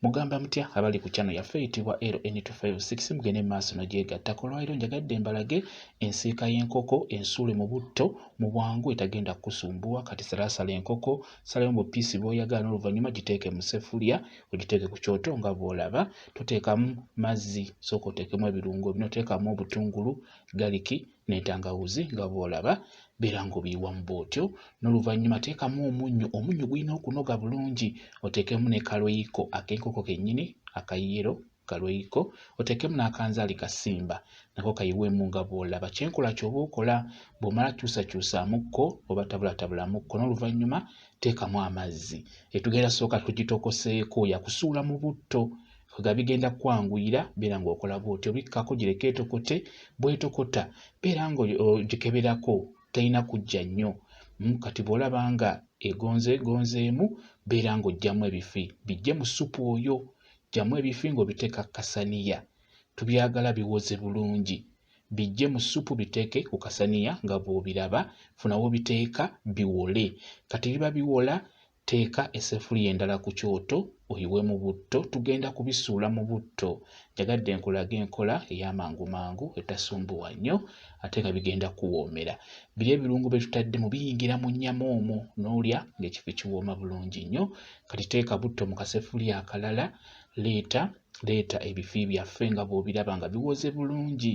Mugamba mutya abali ku channel yaffe eyitibwa LN256 mugende mu maaso nagyegattako olwaliro njagadde mbalage ensiika y'enkoko ensuule mu butto mu bwangu etagenda kukusumbuwa kati salaasala enkoko salayo mu piisi bw'oyagala n'oluvannyuma giteeke mu seffuliya ogiteeke ku kyoto nga bw'olaba toteekamu mazzi sooka oteekemu ebirungo bino teekamu obutungulu galiki n'entangawuzi nga bw'olaba beera ng'obiyiwamu bw'otyo n'oluvannyuma teekamu omunnyo omunnyo gulina okunoga bulungi oteekemu ne kaloyiko ak'enkoko kennyini akayero kaloyiko oteekemu n'akanzaali kasimba nako kayiweemu nga bw'olaba kyenkola ky'oba okola bw'omala kyusakyusaamukko oba tabulatabulaamukko n'oluvannyuma teekamu amazzi etugenda sooka tugitokoseeko yakusuula mu butto nga bigenda kwanguyira beera ng'okola bw'otyo bikkako gireke etokote bw'etokota beera ng'ogikeberako terina kujja nnyo hmm, kati bw'olaba nga egonzeegonzeemu beera ng'oggyamu ebifi bijje mu ssupu oyo ggyamu ebifi ng'obiteeka kasaniya tubyagala biwoze bulungi bijje mu ssupu biteeke ku kasaniya nga bw'obiraba funawo biteeka biwole kati biba biwola Teeka essefuliya endala ku kyoto oyiwemu butto tugenda kubisuula mu butto njagadde nkulage enkola ey'amangu mangu etasumbuwa nnyo ate nga bigenda kukuwoomera biri ebirungo bye tutaddemu biyingira mu nnyama omwo n'olya ng'ekifo kiwooma bulungi nnyo kati teeka butto mu kaseffuliya akalala leeta leeta ebifi byaffe nga bw'obiraba nga biwoze bulungi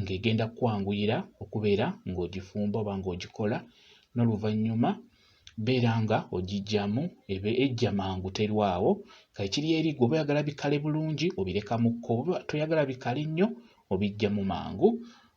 ng'egenda kukwanguyira okubeera ng'ogifumba oba ng'ogikola n'oluvannyuma beera nga ogijjamu ebe ejja mangu terwawo kakiri eri gwe oba oyagala bikale bulungi obireka mu kko oba toyagala bikale nnyo obijjamu mangu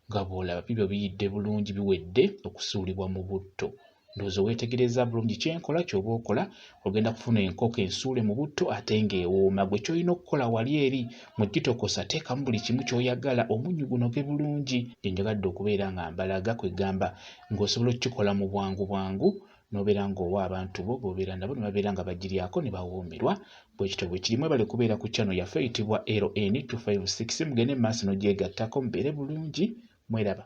nga bw'olaba bibyo biyidde bulungi biwedde okusuulibwa mu butto ndowooza weetegereza bulungi kyenkola kyoba okola ogenda kufuna enkoko ensuule mu butto ate ng'ewooma gwe kyolina okukola wali eri mu kitokosa teekamu buli kimu kyoyagala omunnyu gunoge bulungi gyenjagadde okubeera nga mbalaga kwegamba ng'osobola okukikola mu bwangu bwangu nobeera ng'owa abantu bo bobeera nabo ne babeera nga bagiryako ne bawoomerwa bwekityo bwe kirimu ebale kubeera ku channel yaffe eyitibwa ln 256 mugende mu maaso n'ogyegattako mubeere bulungi mweraba